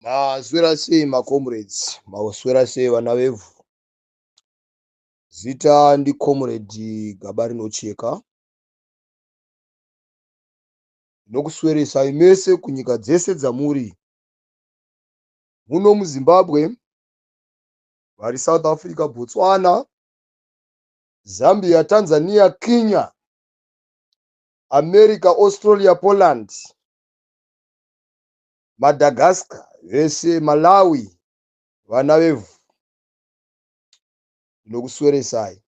Maswera sei macomrades, maswera sei vana vevhu. Zita ndicomrade gaba rinocheka. Ndinokusweresai mese kunyika dzese dzamuri. Muno muZimbabwe, vari South Africa, Botswana, Zambia, Tanzania, Kenya, America, Australia, Poland. Madagascar zvese Malawi vana vevhu ndinokusweresai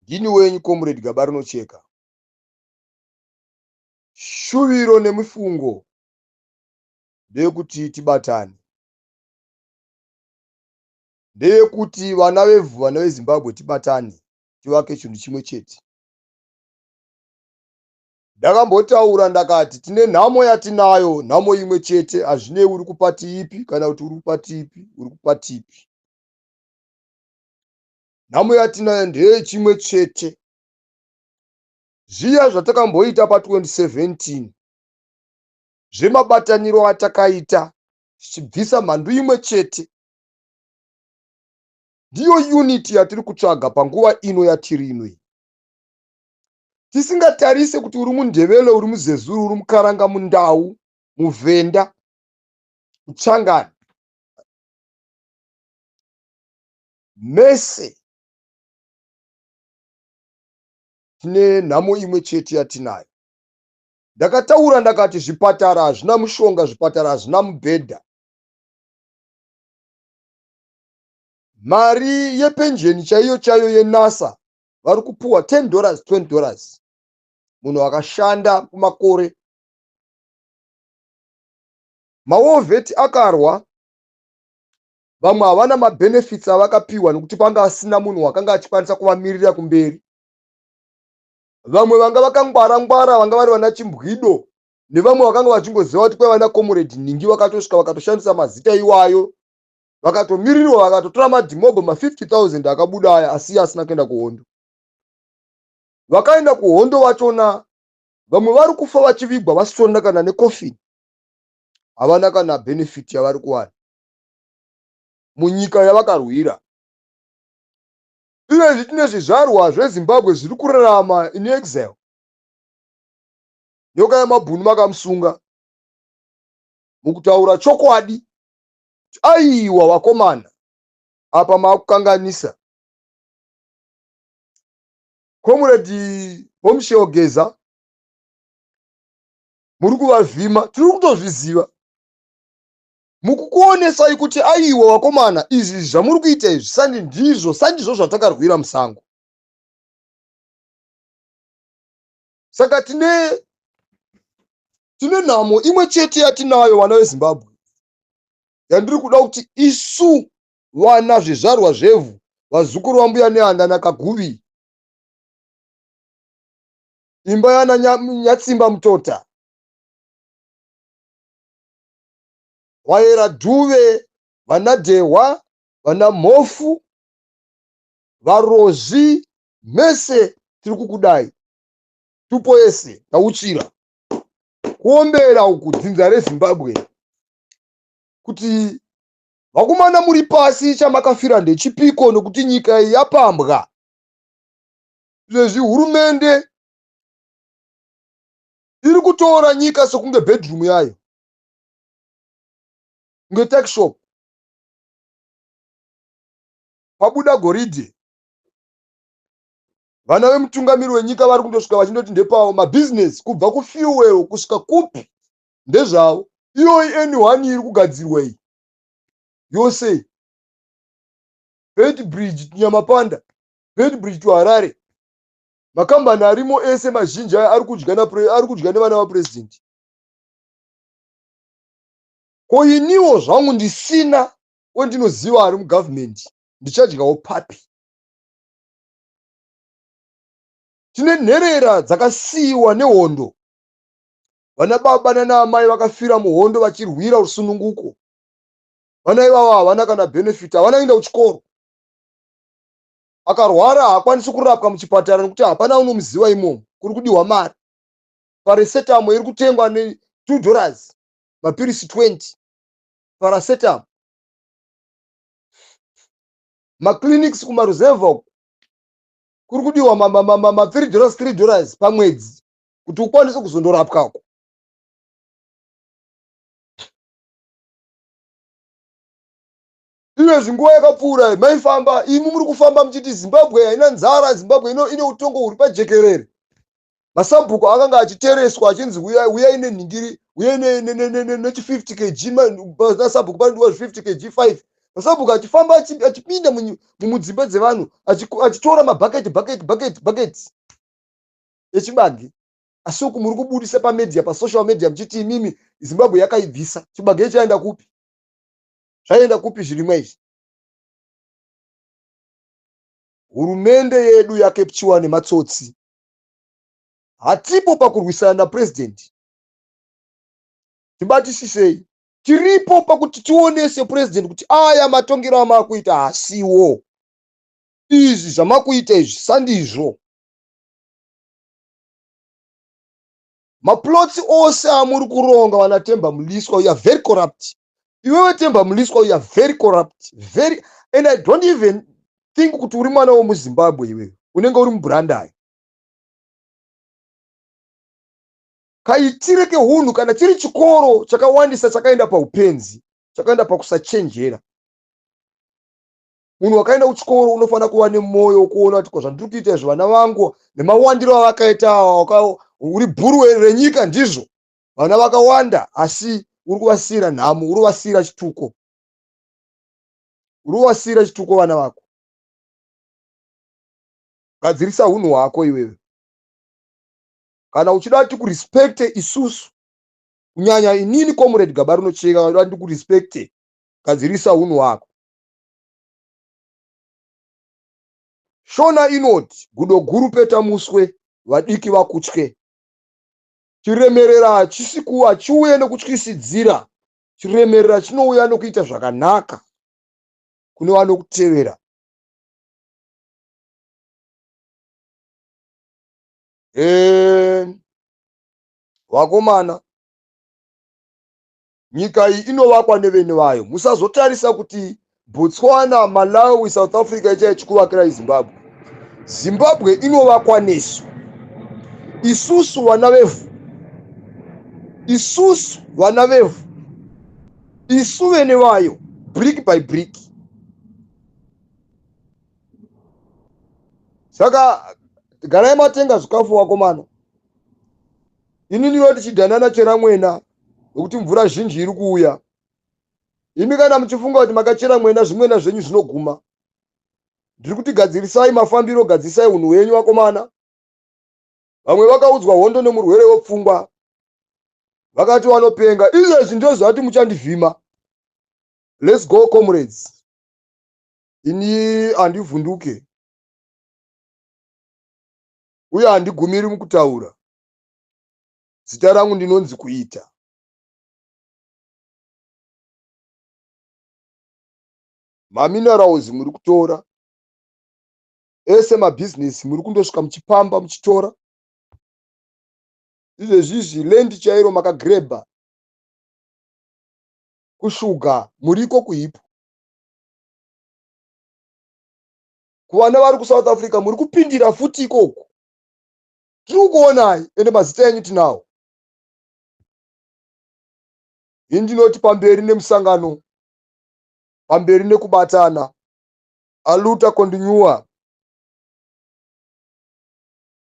ndini wenyu comrade gaba rinocheka shuviro nemifungo ndeyekuti tibatane ndeyekuti vana vevhu vana vezimbabwe tibatane tivake chinhu chimwe chete Ndakambotaura ndakati tine nhamo yatinayo nhamo imwe chete hazvinei uri kupati ipi kana kuti uri kupati ipi uri kupati ipi. Nhamo yatinayo ndeye chimwe chete zviya zvatakamboita pa 2017 zvemabataniro atakaita zvichibvisa mhandu imwe chete ndiyo unity yatiri kutsvaga panguva ino yatiri ino iyi tisingatarise kuti uri mundevelo uri muzezuru uri mukaranga mundau muvhenda uchangani mese tine nhamo imwe chete yatinayo ndakataura ndakati zvipatara hazvina mushonga zvipatara hazvina mubhedha mari yepenjeni chaiyo chaiyo yenasa vari kupuwa 10 dollars 20 dollars munhu akashanda kumakore mawovheti akarwa vamwe havana mabenefits avakapiwa nekuti panga asina munhu wakanga achikwanisa kuvamirira kumberi vamwe vanga vakangwara ngwara vanga vari vana chimbwido nevamwe vakanga vachingoziva kuti kwai vana comrade nhingi vakatosvika vakatoshandisa mazita iwayo vakatomirirwa vakatotora madhimobho ma 50000 akabuda aya asiya asina kuenda kuhondo vakaenda kuhondo vachona vamwe vari kufa vachivigwa vasitona kana nekofini havana kana benefit yavari kuwana munyika yavakarwira ivezvi tine zvizvarwa zvezimbabwe zviri kurarama in exile nyoka yamabhunu makamusunga mukutaura chokwadi aiwa wakomana apa makukanganisa comrade bombshell geza muri kuvavhima tiri kutozviziva mukukuonesai kuti aiwa wakomana izvi zvamuri kuita izvi sandi ndizvo sandizvo zvatakarwira musango saka tine tine nhamo imwe chete yatinayo vana vezimbabwe yandiri kuda kuti isu vana zvizvarwa zvevhu vazukuru vambuya neanda nakaguvi imba yana nyatsimba mutota wayera dhuve vana dhehwa vana mhofu varozvi mese tiri kukudai tupo yese tauchira kuombera uku dzinza rezimbabwe kuti vakomana muri pasi chamakafira ndechipiko nokuti nyika iyi yapambwa zvezvi hurumende iri kutora nyika sekunge bedroom yayo kunge takshop pabuda goridhe vana vemutungamiri wenyika vari kundosvika vachindoti ndepavo mabhizinesi kubva kufuel kusvika kupi ndezvavo iyoyi any one iri kugadzirwa iyi yose bed bridge nyamapanda bed bridge to harare makambani arimo ese mazhinji aya ari kudya napre- ari kudya nevana vapurezidendi ko iniwo zvangu ndisina wendinoziva ari mugavhumendi ndichadyawo papi tine nherera dzakasiyiwa nehondo vana baba nana amai vakafira muhondo vachirwira rusununguko vana ivavo havana kana benefit havana kuenda kuchikoro akarwara haakwanisi kurapwa muchipatara nekuti hapana unomuziva imomo kuri kudiwa mari paresetamo iri kutengwa ne two dollars mapirisi 20 parasetamo maclinics kumaruzevha uku kuri kudiwa ma3 dollars 3 dollars pamwedzi kuti ukwanise kuzondorapwa uku iwe zvinguva yakapfuura maifamba imi muri kufamba muchiti zimbabwe haina nzara zimbabwe ine utongo huri pajekerere masabhuku akanga achitereswa achinzi uyai nenhingiri uyai nechi50 kg nasabhuku panodiwa zvi50 kg 5 masabhuku achifamba achipinda mumudzimba dzevanhu achitora mabhaketi bhaketi bhaketi bhaketi echibage asi uku muri kubudisa pamedia pasocial media muchiti imimi zimbabwe yakaibvisa chibage ichaenda kupi zvaienda kupi zvirimwa izvi hurumende yedu yakepchiwa nematsotsi hatipo pakurwisana napurezidendi tibatisisei tiripo pakuti tione sepurezidendi kuti aya matongero amakuita hasiwo izvi zvamakuita izvi sandizvo maplots ose amuri kuronga vana temba muliswa uya very corrupt iwewe temba muliswa uya very corrupt very and i don't even think kuti uri mwana womuzimbabwe iwewe unenge uri mubrandai kaitire keunhu kana chiri chikoro chakawandisa chakaenda paupenzi chakaenda pakusachenjera munhu wakaenda kuchikoro unofanira kuva nemwoyo wokuona kuti ko zvandiri kuita izvo vana vangu nemawandiro avakaita awa uri bhuru renyika ndizvo vana vakawanda asi uri kuvasiyira nhamo uri kuvasiyira chituko uri kuvasiyira chituko vana vako gadzirisa unhu hwako iwewe kana uchida kuti kurespecte isusu kunyanya inini comrade gaba rinocheka uda kuti ndikurespecte gadzirisa unhu hwako Shona inoti gudo guru peta muswe vadiki vakutye. Chiremerera hachisi ku hachiuye nokutyisidzira. Chiremerera chinouya nokuita zvakanaka kune vanokutevera. Eee vakomana nyika iyi inovakwa nevene vayo musazotarisa kuti botswana malawi south africa ichaya chikuvakira izimbabwe zimbabwe inovakwa nesu isusu vana vevhu isusu vana vevhu isu vene vayo brick by brick saka garai matenga zvikafu wakomana inini iwe tichidanana chera mwena nokuti mvura zhinji iri kuuya imi kana muchifunga kuti makachera mwena zvimwena zvenyu zvinoguma ndiri kuti gadzirisai mafambiro gadzisai unhu hwenyu vakomana vamwe vakaudzwa hondo nemurwere wepfungwa vakati vanopenga izvezvi ndozvati muchandivhima let's go comrades ini handivhunduke uye handigumiri mukutaura zita rangu ndinonzi kuita maminerals muri kutora ese mabhizinesi muri kundosvika muchipamba muchitora izvezvizvi lendi chairo makagrebha kushuga muriko kuhipo kuvana vari kusouth africa muri kupindira futi ikoku tiri kukuonai ende mazita enyu tinawo ini ndinoti pamberi nemusangano pamberi nekubatana aluta kondinyuwa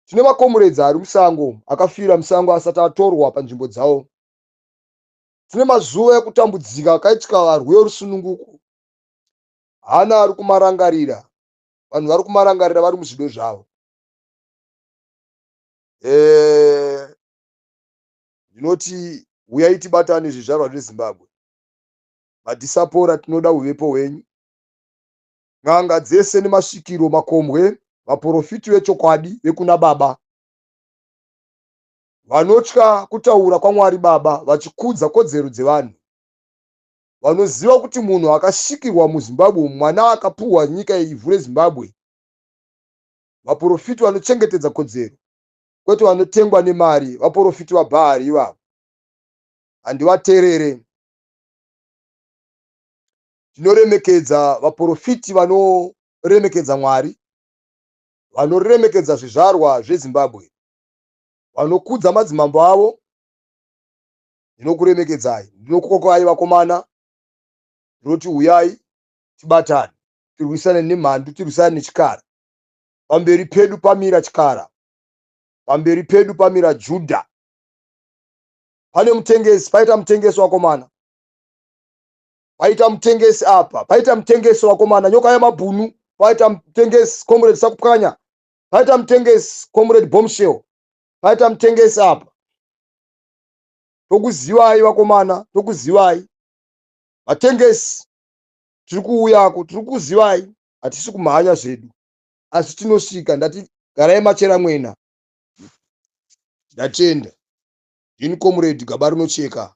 tine makomuredzi ari musango akafira musango asati atorwa panzvimbo dzawo tine mazuva ekutambudzika akaitika varwi verusununguko hana ari kumarangarira vanhu vari kumarangarira vari muzvido zvavo eh, ndinoti eh, huyai tibatane zvizvarwa zvezimbabwe madhisapora tinoda uvepo hwenyu n'anga dzese nemasvikiro makombwe vaprofiti vechokwadi vekuna baba vanotya kutaura kwamwari baba vachikudza kodzero dzevanhu vanoziva kuti munhu akasvikirwa muzimbabwe mwana akapuhwa nyika ivhu rezimbabwe vaporofiti vanochengetedza kodzero kwete vanotengwa nemari vaporofiti vabhaari ivavo handivaterere tinoremekedza vaporofiti vanoremekedza mwari vanoremekedza zvizvarwa zvezimbabwe vanokudza madzimambo avo ndinokuremekedzai ndinokukokai vakomana ndinoti uyai tibatane tirwisane nemhandu tirwisane nechikara pamberi pedu pamira chikara pamberi pedu pamira judha pane mutengesi paita mutengesi wakomana paita mutengesi apa paita mutengesi wakomana nyoka yemabhunu paita mutengesi comrade sakupwanya paita mutengesi comrade bombshell paita mutengesi apa tokuzivai vakomana tokuzivai vatengesi tiri kuuyako tiri kuzivai hatisi kumhanya zvedu asi tinosvika ndati garai machera mwena ndatenda ini comrade gaba rinocheka